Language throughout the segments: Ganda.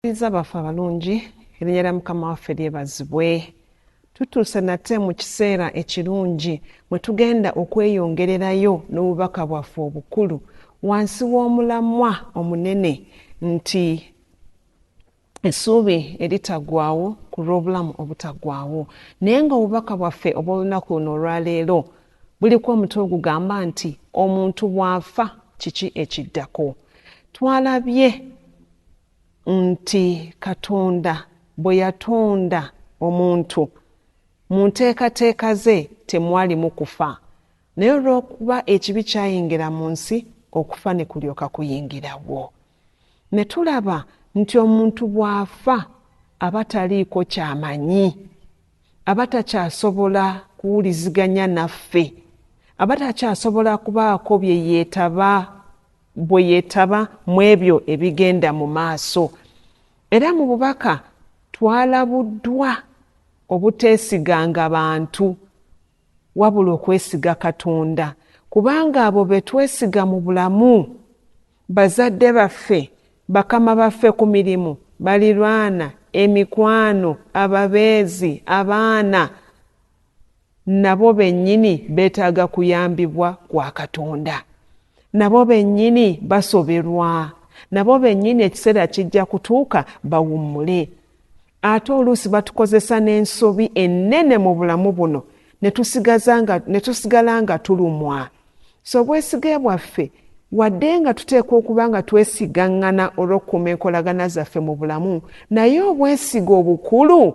Tukuliza baffe abalungi erinnya lya mukama waffe lyebazibwe tutuuse nate mu kiseera ekirungi mwe tugenda okweyongererayo n'obubaka bwaffe obukulu wansi w'omulamwa omunene nti essuubi eritagwawo ku lw'obulamu obutagwawo naye nga obubaka bwaffe obw'olunaku luno olwaleero buliko omutwe ogugamba nti omuntu bw'afa kiki ekiddako twalabye nti Katonda bwe yatonda omuntu, mu nteekateeka ze temwalimu kufa, naye olw'okuba ekibi kyayingira mu nsi, okufa ne kulyoka kuyingirawo. Ne tulaba nti omuntu bw'afa aba taliiko ky'amanyi, aba takyasobola kuwuliziganya naffe, aba takyasobola kubaako bye yeetaba. bwe yeetaba mu ebyo ebigenda mu maaso. Era mu bubaka twalabuddwa obuteesiganga bantu wabula okwesiga Katonda kubanga abo be twesiga mu bulamu, bazadde baffe, bakama baffe ku mirimu, balirwana, emikwano, ababeezi, abaana. Nabo bennyini beetaaga kuyambibwa kwa Katonda. Nabo bennyini basoberwa. Nabo bennyini ekiseera kijja kutuuka bawummule. Ate oluusi batukozesa n'ensobi ennene mu bulamu buno ne tusigaza nga, ne tusigala nga tulumwa. So obwesige bwaffe, wadde nga tuteekwa okuba nga twesigaŋŋana olw'okukuuma enkolagana zaffe mu bulamu, naye obwesige obukulu,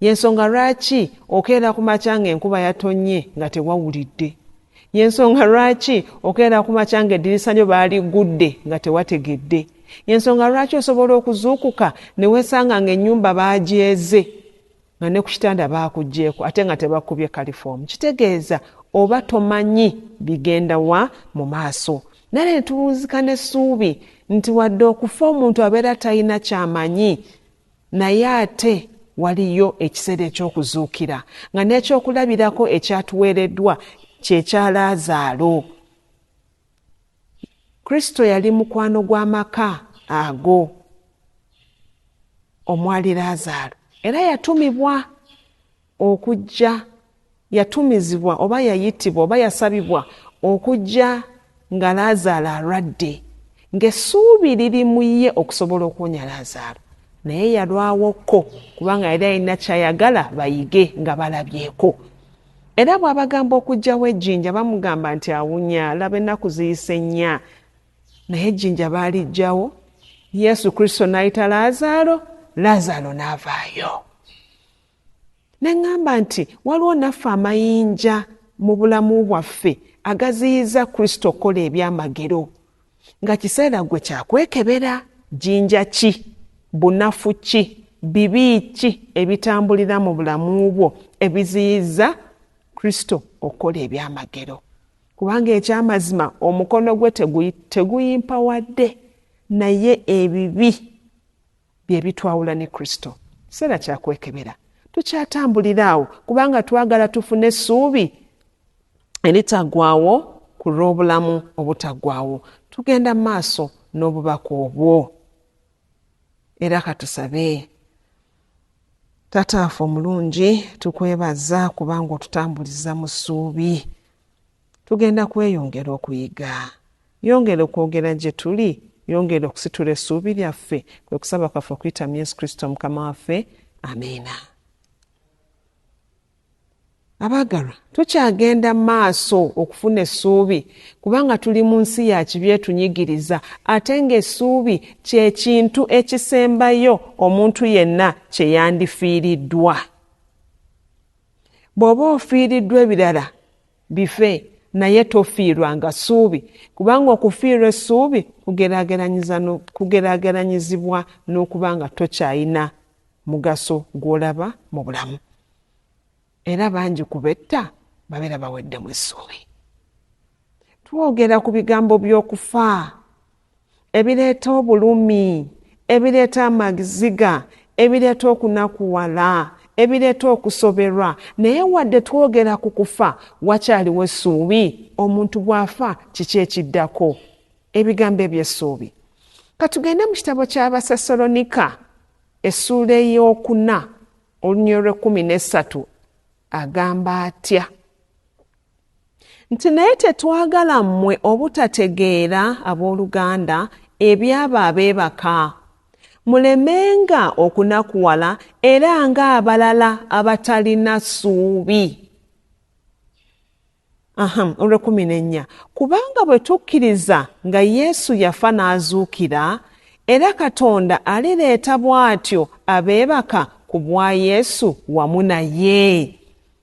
Y'ensonga lwaki okeera ku makya ng'enkuba yatonnye nga tewawulidde. Y'ensonga lwaki okeera ku makya ng'eddirisa lyo baaliggudde nga tewategedde. Y'ensonga lwaki osobola okuzuukuka ne weesanga ng'ennyumba baagyeze nga ne ku kitanda baakuggyeeko ate nga tebakubye kalifoomu. Kitegeeza oba tomanyi bigenda wa mu maaso. Nale ne tuwunzika n'essuubi nti wadde okufa omuntu abeera talina ky'amanyi, Naye ate waliyo ekiseera eky'okuzuukira, nga n'ekyokulabirako ekyatuweereddwa kye kya Laazaalo. Kristo yali mukwano gw'amaka ago omwali Laazaalo, era yatumibwa. okujja, yatumizibwa oba yayitibwa oba yasabibwa okujja nga Laazaalo alwadde, ng'essuubi liri mu ye okusobola okuwonya Laazaalo. Naye yalwawokko, kubanga yali alina ky'ayagala bayige nga balabyeko. Era bw'abagamba okuggyawo ejjinja, bamugamba nti, Awunya, laba ennaku ziyise nnya. Naye ejjinja baaliggyawo, Yesu Kristo n'ayita Laazaalo, Laazaalo n'avaayo. Ne ŋŋamba nti, Waliwo naffe amayinja mu bulamu bwaffe agaziyiza Kristo okukola ebyamagero. Nga kiseera ggwe kya kwekebera! Jjinja ki, bunafu ki, bibi ki ebitambulira mu bulamu bwo ebiziyiza Kristo okukola ebyamagero? Kubanga eky'amazima omukono gwe teguyimpawadde, naye ebibi Bye bitwawula ne Kristo. Kiseera kya kwekebera. Tukyatambulira awo kubanga twagala tufune essuubi eritaggwaawo ku lw'obulamu obutaggwaawo. Tugenda mu maaso n'obubaka obwo. Era katusabe. Taata waffe omulungi, tukwebaza kubanga otutambuliza mu ssuubi. Tugenda kweyongera okuyiga. Yongera okwogera gye tuli. Yongera okusitula essuubi lyaffe. Kwe kusaba kwaffe okuyita mu Yesu Kristo Mukama waffe. Amiina. Abaagalwa, tukyagenda mu maaso okufuna essuubi kubanga tuli mu nsi ya kibi etunyigiriza ate ng'essuubi kye kintu ekisembayo omuntu yenna kye yandifiiriddwa. Bw'oba ofiiriddwa ebirala Bife, naye tofiirwanga ssuubi, kubanga okufiirwa essuubi kugeraageranyizibwa n'okuba nga tokyalina mugaso gw'olaba mu bulamu. Era bangi ku betta babeera baweddemu essuubi. Twogera ku bigambo by'okufa ebireeta obulumi, ebireeta amagziga, ebireeta okunakuwala, ebireeta okusoberwa. Naye wadde twogera ku kufa, wakyaliwo essuubi? Omuntu bw'afa, kiki ekiddako? Ebigambo eby'essuubi. Ka tugende mu kitabo ky'Abasesalonika, essuula ey'okuna, olunyiriri lw'ekkumi n'essatu. Agamba atya? Nti naye tetwagala mmwe obutategeera, ab'oluganda, eby'abo abeebaka, mulemenga okunakuwala era nga abalala abatalina ssuubi. Aha, olw'ekkumi n'ennya. Kubanga bwe tukkiriza nga Yesu yafa n'azuukira, era Katonda alireeta bw'atyo abeebaka ku bwa Yesu wamu naye.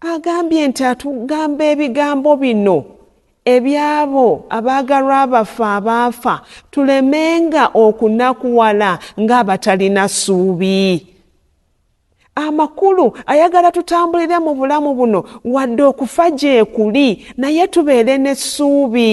Agambye nti atugamba ebigambo bino ebyabo abaagalwa baffe abaafa tulemenga okunakuwala ng'abatalina ssuubi. Amakulu ayagala tutambulire mu bulamu buno wadde okufa gyekuli naye tubeere n'essuubi.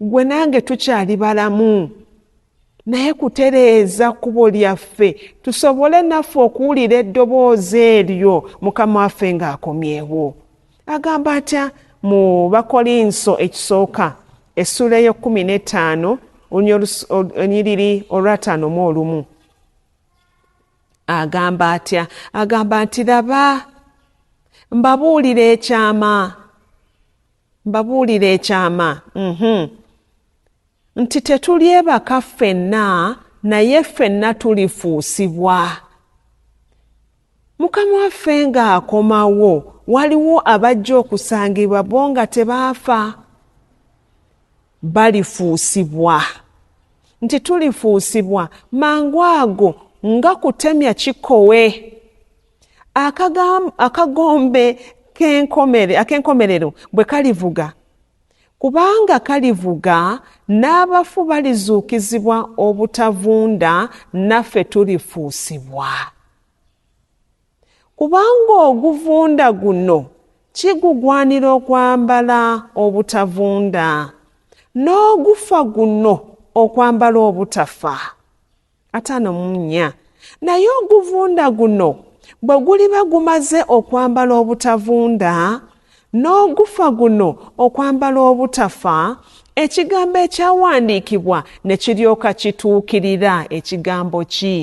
Gwe nange tukyali balamu naye kutereeza kkubo lyaffe tusobole naffe okuwulira eddoboozi eryo mukama waffe ng'akomyewo agamba atya mu bakolinso ekisooka essuula ey'ekkumi n'ettaano onyiriri olwataano mu olumu agamba atya agamba nti laba mbabuulira ekyama Mbabuulire ekyama, uhmm, nti tetulyebaka ffenna, naye ffenna tulifuusibwa. Mukama waffe nga akomawo, waliwo abajja okusangibwa bo nga tebaafa. Balifuusibwa. Nti tulifuusibwa, mangu ago nga kutemya kikowe. akagombe ak'enkomerero bwe kalivuga kubanga kalivuga n'abafu balizuukizibwa obutavunda naffe tulifuusibwa kubanga oguvunda guno kigugwanira okwambala obutavunda n'ogufa guno okwambala obutafa ataano mu nnya naye oguvunda guno bwe guliba gumaze okwambala obutavunda n'ogufa guno okwambala obutafa ekigambo ekyawandiikibwa ne kiryoka kituukirira ekigambo ki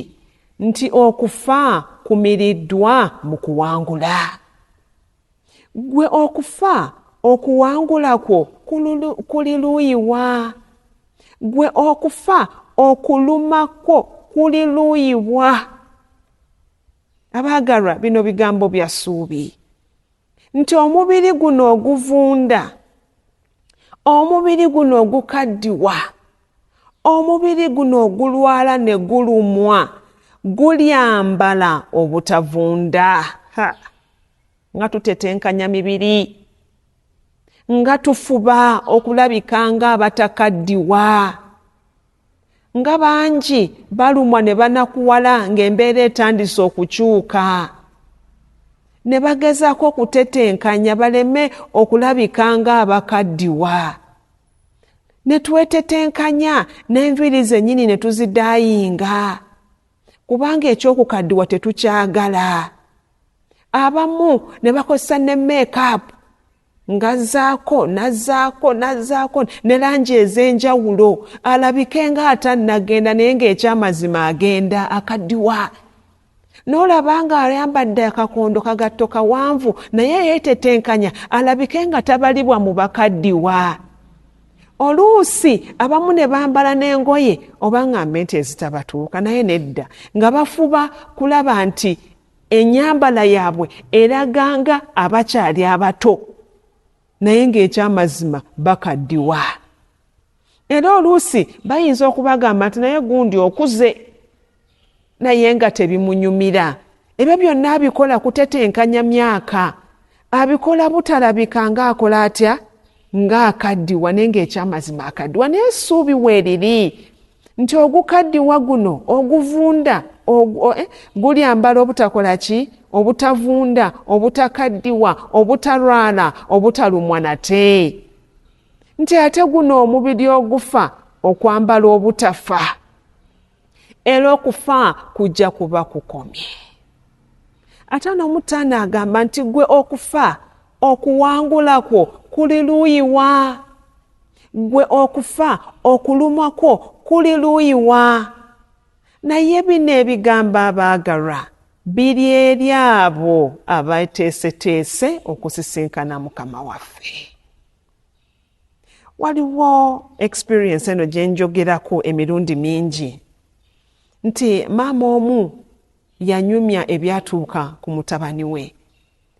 nti okufa kumiriddwa mu kuwangula Ggwe okufa okuwangula kwo kuli luuyi wa? Ggwe okufa okuluma kwo kuli luuyi wa? Abaagalwa, bino bigambo bya ssuubi nti omubiri guno oguvunda, omubiri guno ogukaddiwa, omubiri guno ogulwala ne gulumwa gulyambala obutavunda. Ha! nga tutetenkanya mibiri nga tufuba okulabika nga abatakaddiwa nga bangi balumwa ne banakuwala ng'embeera etandise okukyuka ne bagezaako okutetenkanya baleme okulabika nga abakaddiwa ne twetetenkanya n'enviiri zennyini ne tuzidaayinga kubanga eky'okukaddiwa tetukyagala abamu ne bakozesa ne meekaapu ngazaako nazaako nazaako ne langi ez'enjawulo alabike nga atannagenda naye ng'ekyamazima agenda akadiwa n'olaba nga ayambadde akakondo kagatto kawanvu naye yeetetenkanya alabike nga tabalibwa mu bakaddiwa oluusi abamu ne bambala n'engoye oba nga mente ezitabatuuka naye nedda nga bafuba kulaba nti enyambala yaabwe eraganga abakyali abato naye ng'ekyamazima bakaddiwa era oluusi bayinza okubagamba nti naye gundi okuze naye nga tebimunyumira ebyo byonna abikola kutetenkanya myaka abikola butalabika nga akola atya nga akaddiwa naye ngaekyamazima akaddiwa naye esuubi weeriri nti ogukaddiwa guno oguvunda eh, gulyambala obutakola ki obutavunda obutakaddiwa obutalwala obutalumwa nate nti ate guno omubiri ogufa okwambala obutafa era okufa kujja kuba kukomye ate n'omutaano agamba nti gwe okufa okuwangula kwo kuli luuyiwa gwe okufa okulumwa kwo kuli luuyiwa naye bino ebigambo abaagalwa biri eri abo abateeseteese okusisinkana mukama waffe Waliwo experience eno gye njogerako emirundi mingi nti maama omu yanyumya ebyatuuka ku mutabani we.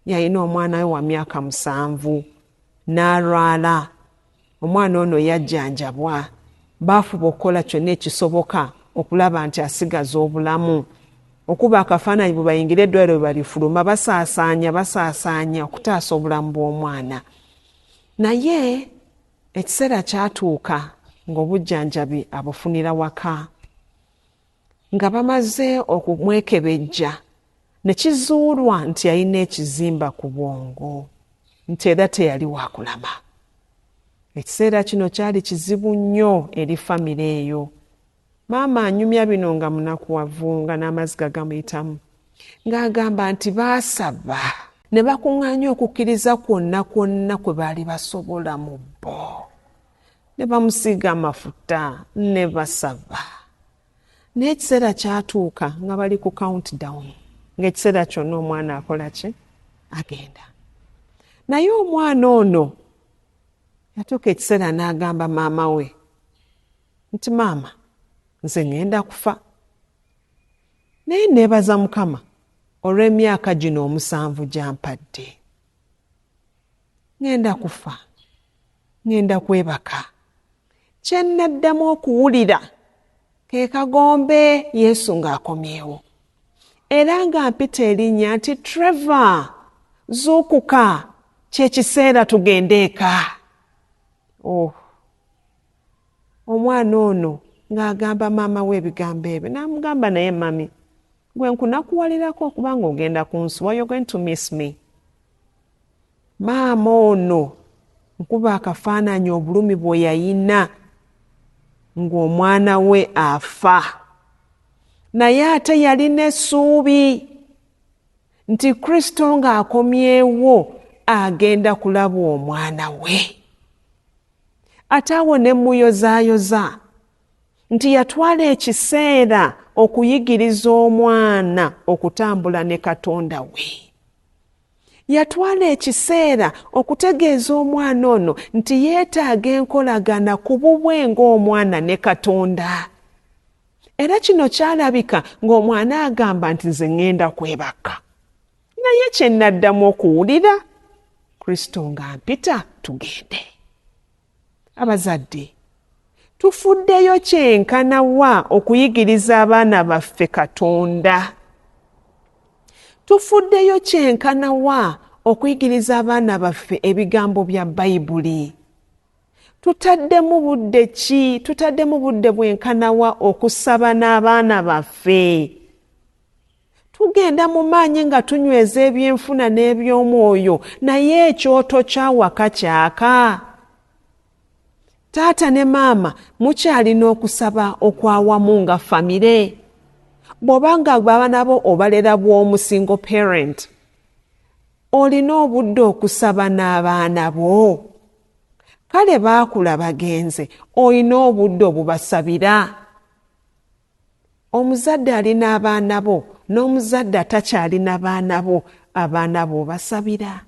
Yalina omwana we wa myaka musanvu n'alwala. Omwana ono yajjanjabwa, baafuba okukola kyonna ekisoboka okulaba nti asigaza obulamu. Okuba akafaananyi bwe bayingira eddwaliro bwe balifuluma basaasaanya basaasaanya okutaasa obulamu bw'omwana. Naye ekiseera kyatuuka ng'obujjanjabi abufunira waka. Nga bamaze okumwekebejja ne kizuulwa nti yalina ekizimba ku bwongo nti era teyali wa kulama. Ekiseera kino kyali kizibu nnyo eri famire eyo Maama anyumya bino nga munakuwavu nga n'amaziga gamuyitamu ng'agamba nti baasaba. Ne bakuŋŋaanya okukkiriza kwonna kwonna kwe baali basobola mu bo, ne bamusiiga amafuta, ne basaba. Naye ekiseera kyatuuka nga bali ku countdown, ng'ekiseera kyonna omwana akola ki? Agenda. Naye omwana ono yatuuka ekiseera n'agamba maama we, nti maama nze ngenda kufa naye nebaza mukama olw'emyaka gino omusanvu gyampadde ngenda kufa ngenda kwebaka kyennaddamu okuwulira ke kagombe yesu ng'akomyewo era nga mpita erinnya nti trevor zuukuka kyekiseera tugende eka oh. Omwana ono nga agamba maama we ebigambo ebyo namugamba naye mummy gwe nkunakuwalirako okuba nga ogenda kunsuwa you're going to miss me maama ono nkuba akafaananyi obulumi bweyayina ng'omwana we afa naye ate yalina essuubi nti kristo ng'akomyewo agenda kulaba omwana we ate awo ne mmuyozaayoza nti yatwala ekiseera okuyigiriza omwana okutambula ne katonda we yatwala ekiseera okutegeeza omwana ono nti yeetaaga enkolagana ku bubwe ng'omwana ne katonda era kino kyalabika ng'omwana agamba nti nze ŋŋenda kwebaka naye kye nnaddamu okuwulira kristo ng'ampita tugende abazadde tufuddeyo kyenkana wa okuyigiriza abaana baffe katonda tufuddeyo kyenkana wa okuyigiriza abaana baffe ebigambo bya bayibuli tutaddemu budde ki tutaddemu budde bwenkanawa okusaba n'abaana baffe Tugenda mu maanyi nga tunyweza ebyenfuna n'eby'omwoyo, naye ekyoto ky'awaka kyaka. Taata ne maama mukyalina okusaba okw'awamu nga famire. Bw'oba nga abaana bo obalera bw'omu, single parent, olina obudde okusaba n'abaana bo? Kale baakula bagenze, olina obudde obubasabira? Omuzadde alina abaana bo n'omuzadde atakyalina baana bo, abaana bo obasabira?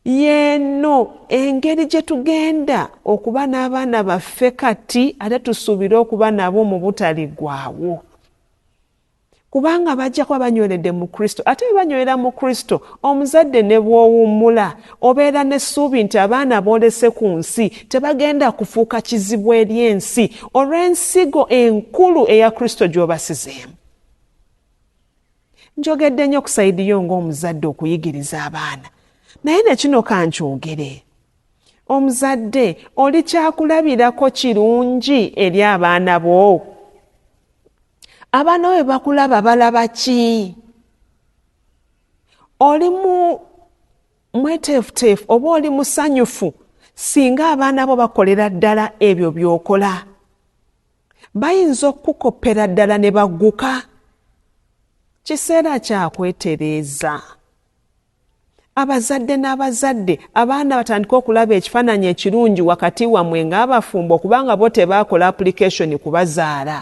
Y'eno engeri gye tugenda okuba n'abaana baffe kati ate tusuubire okuba nabo mu butaliggwaawo. Kubanga bajja kuba banyweredde mu Kristo, ate bwe banywerera mu Kristo, omuzadde ne bw'owummula, Obeera n'essuubi nti abaana b'olese ku nsi tebagenda kufuuka kizibu eri ensi olw'ensigo enkulu eya Kristo gy'obasizeemu. Njogedde nnyo ku sayidi yo ng'omuzadde okuyigiriza abaana, naye ne kino ka nkyogere. Omuzadde oli kyakulabirako kirungi eri abaana bo? Abaana bo bwe bakulaba balaba ki? oli mu mweteefuteefu oba oli musanyufu singa abaana bo bakolera ddala ebyo by'okola bayinza okukukoppera ddala ne bagguka kiseera kya kwetereeza abazadde n'abazadde abaana batandike okulaba ekifaananyi ekirungi wakati wammwe ng'abafumbo kubanga bo tebaakola apulikeshoni kubazaala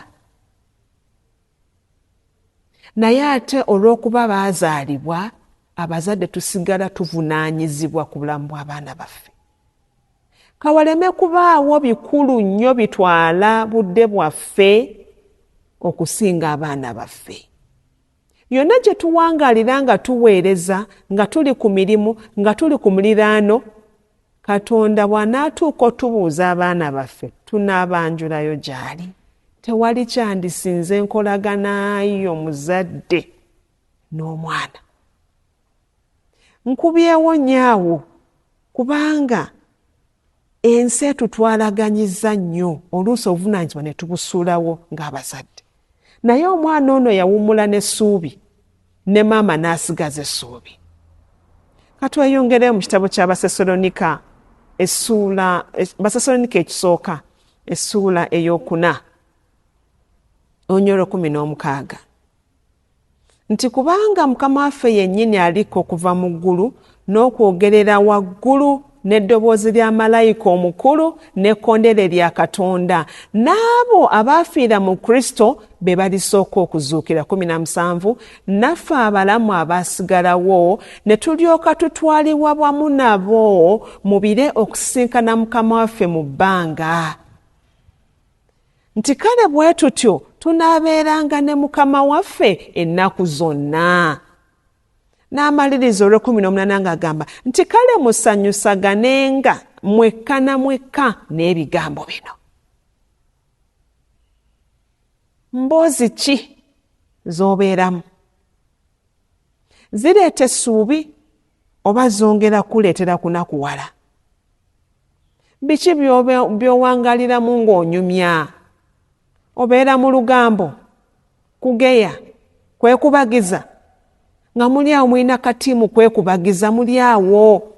Naye ate olw'okuba baazaalibwa, abazadde tusigala tuvunaanyizibwa ku bulamu bw'abaana baffe. Ka waleme kubaawo bikulu nnyo bitwala budde bwaffe okusinga abaana baffe. Yonna gye tuwangaalira nga tuweereza, nga tuli ku mirimu, nga tuli ku muliraano, Katonda bw'anaatuuka otubuuza abaana baffe, tunaabanjulayo gy'ali. Tewali kyandisinze nkolagana yo muzadde n'omwana. Nkubyewo nnyo awo kubanga ensi etutwalaganyizza nnyo oluusi obuvunaanyizibwa ne tubusuulawo ng'abazadde. Naye omwana ono yawummula n'essuubi. ne maama n'asigaza essuubi katweyongereyo mu kitabo kya basesalonika essuula basesalonika ekisooka essuula eyokuna onyolo kumi n'omukaaga nti kubanga mukama waffe yennyini aliko okuva mu ggulu n'okwogerera waggulu n'eddoboozi lya malayika omukulu n'ekkondeere lya Katonda, n'abo abaafiira mu Kristo be balisooka okuzuukira. Kumi na musanvu Naffe abalamu abaasigalawo ne tulyoka tutwalibwa wamu nabo mu bire okusisinkana Mukama waffe mu bbanga, nti kale bwe tutyo tunaabeeranga ne Mukama waffe ennaku zonna. n'amaliriza olw'ekkumi n'omunaana ng'agamba nti kale musanyusaganenga mwekka na mwekka n'ebigambo bino mboozi ki z'obeeramu zireeta essuubi oba zongera kuleetera kunakuwala biki by'owangaliramu ng'onyumya obeera mu lugambo Kugeya, kwekubagiza. Nga muli awo mulina katiimu kwekubagiza, muli awo.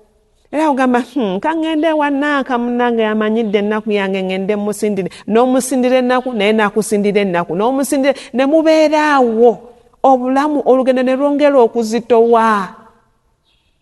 Era ogamba, hmm, kangende ewa Nanka munange amanyidde ennaku yange ngende musindire. N'omusindira ennaku, naye nakusindira ennaku. N'omusindira, ne mubeera awo. Obulamu olugendo ne lwongera okuzitowa.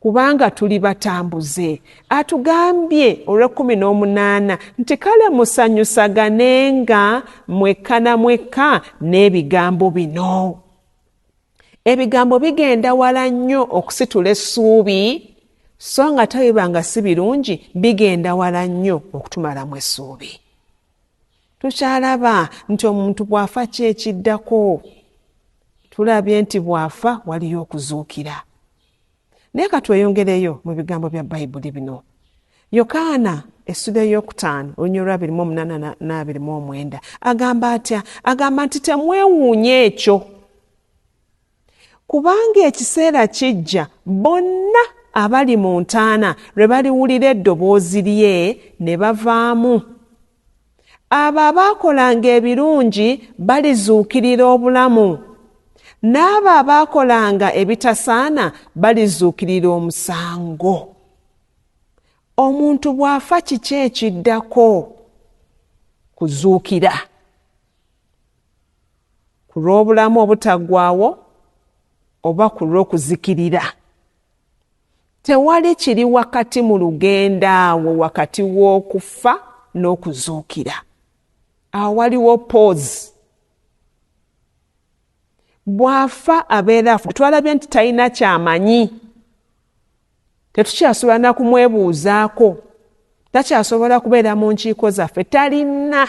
kubanga tuli batambuze. Atugambye olw'ekkumi n'omunaana nti kale musanyusaganenga mwekka na mwekka n'ebigambo bino. Ebigambo bigenda wala nnyo okusitula essuubi, so nga ate bwe biba nga si birungi bigenda wala nnyo okutumalamu essuubi. tukyalaba nti omuntu bw'afa ki ekiddako tulabye nti bw'afa waliyo okuzuukira naye ka tweyongereyo mu bigambo bya bayibuli bino yokaana essula eyokutaano olunya olwabiri mu omunaana n'abiri mu omwenda agamba atya agamba nti temwewuunya ekyo Kubanga ekiseera kijja bonna abali mu ntaana lwe baliwulira eddoboozi lye ne bavaamu. Abo abaakolanga ebirungi balizuukirira obulamu, n'abo abaakolanga ebitasaana balizuukirira omusango. Omuntu bw'afa kiki ekiddako? Kuzuukira. ku lw'obulamu obutaggwaawo oba ku lw'okuzikirira tewali kiri wakati mu lugendo awo wakati w'okufa n'okuzuukira awo waliwo poozi bw'afa abeera twalabye nti talina kyamanyi tetukyasobola nakumwebuuzaako takyasobola kubeera mu nkiiko zaffe talina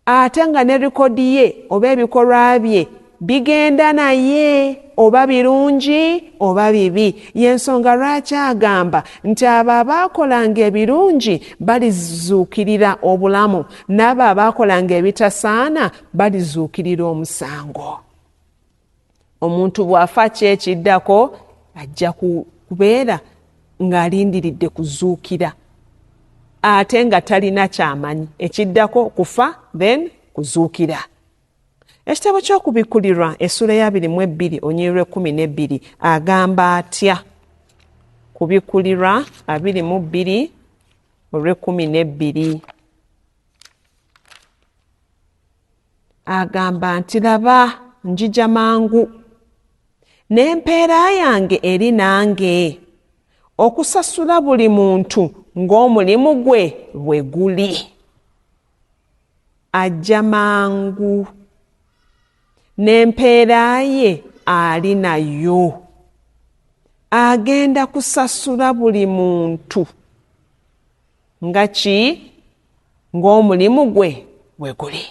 ate nga ne rekodi ye oba ebikolwa bye bigenda naye oba birungi oba bibi yensonga lwaki agamba nti abo abaakolanga ebirungi balizuukirira obulamu n'abo abaakolanga ebitasaana balizuukirira omusango omuntu bw'afa ki ekiddako ajja kubeera ng'alindiridde kuzuukira ate nga talina kyamanyi ekiddako kufa then kuzuukira ekitabo ky'okubikkulirwa essuula ya biri mu ebbiri onyirwa ekkumi n'ebbiri agamba atya kubikkulirwa abiri mu bbiri olw'ekkumi n'ebbiri Agamba nti, Laba, njija mangu, n'empeera yange eri nange, okusasula buli muntu ng'omulimu gwe bwe guli. Ajja mangu, n'empeera ye ali nayo. Agenda kusasula buli muntu. nga ki ng'omulimu gwe bwe guli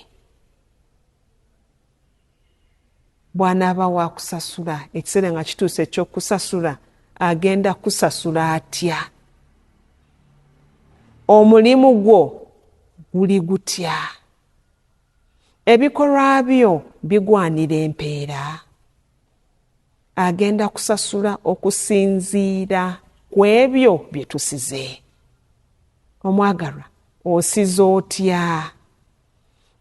bw'anaaba waakusasula ekiseera nga kituuse eky'okusasula agenda kusasula atya omulimu gwo guli gutya ebikolwa byo bigwanira empeera agenda kusasula okusinziira ku ebyo bye tusize. Omwagalwa, osize otya?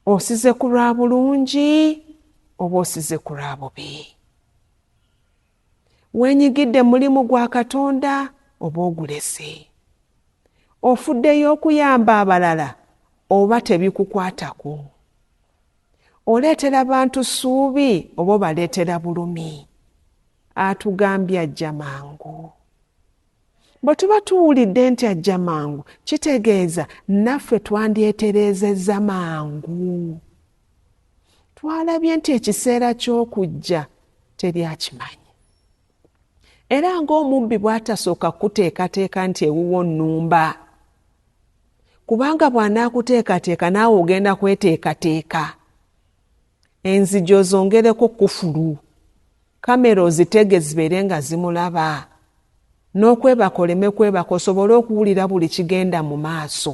Osize ku lwa bulungi oba osize ku lwa bubi? Wenyigidde mulimu gwa Katonda oba ogulese? Ofuddeyo okuyamba abalala oba tebikukwatako? Oleetera bantu ssuubi oba obaleetera bulumi? Atugambye ajja mangu. Bwe tuba tuwulidde nti ajja mangu, kitegeeza naffe twandyetereezezza mangu. Twalabye nti ekiseera ky'okujja teri akimanyi. era ng'omubbi bw'atasooka kukuteekateeka nti ewuwo nnumba kubanga bw'anaakuteekateeka naawe ogenda kweteekateeka enzigi ozongereko kufulu kamera ozitege zibeere nga zimulaba n'okwebaka oleme kwebaka osobole okuwulira buli kigenda mu maaso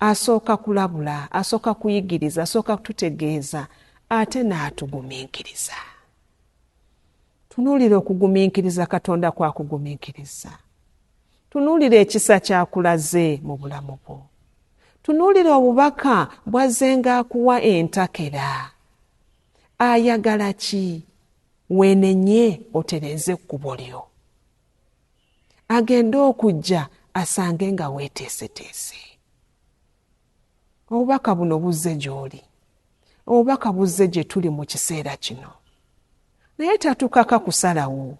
Asooka kulabula, asooka kuyigiriza, asooka kututegeeza ate n'atugumiikiriza. Tunuulira okugumiikiriza Katonda kw'akugumiikirizza. Tunuulira ekisa ky'akulaze mu bulamu bwo. Tunuulira obubaka bw'azzenga akuwa entakera. Ayagala ki? Weenenye otereeze ekkubo lyo. agende okujja asange nga weeteeseteese obubaka buno buzze gy'oli obubaka buzze gye tuli mu kiseera kino naye tatukaka kusalawo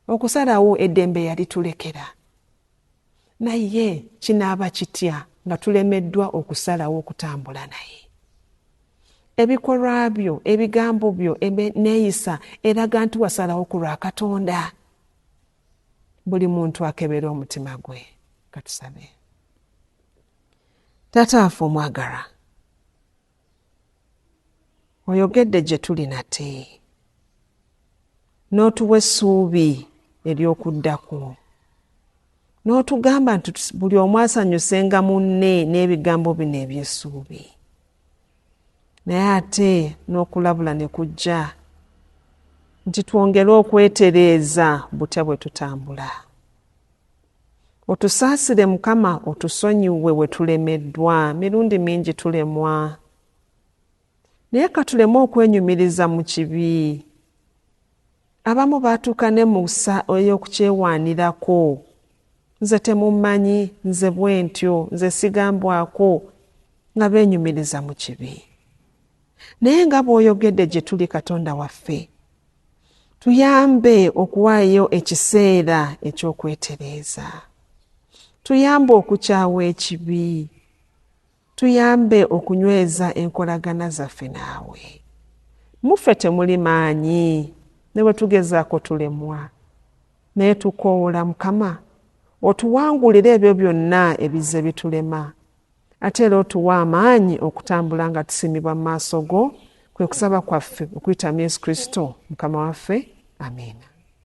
okusalawo eddembe yalitulekera Naye kinaaba kitya nga tulemeddwa okusalawo okutambula naye? Ebikolwa byo, ebigambo byo, n'enneeyisa eraga nti wasalawo ku lwa Katonda. Buli muntu akebere omutima gwe. Katusabe. Taata waffe omwagalwa, oyogedde gye tuli nate n'otuwa essuubi ery'okudda kwo n'otugamba nti buli omu asanyusenga munne n'ebigambo bino eby'essuubi naye ate n'okulabula ne kujja nti twongere okwetereeza butya bwe tutambula Otusaasire mukama otusonyiwe wetulemeddwa mirundi mingi tulemwa naye katuleme okwenyumiriza mu kibi abamu baatuuka ne mu sa ey'okukyewaanirako nze temummanyi nze bwentyo nze sigambwako nga beenyumiriza mu kibi. naye nga bw'oyogedde gye tuli katonda waffe tuyambe okuwaayo ekiseera eky'okwetereeza tuyambe okukyawa ekibi tuyambe okunyweza enkolagana zaffe naawe muffe temuli maanyi ne bwe tugezaako tulemwa naye tukoowola mukama otuwangulire ebyo byonna ebizze bitulema Ate era otuwa amaanyi okutambula nga tusiimibwa mu maaso go, kwe kusaba kwaffe okuyita mu Yesu Kristo Mukama waffe. Amiina.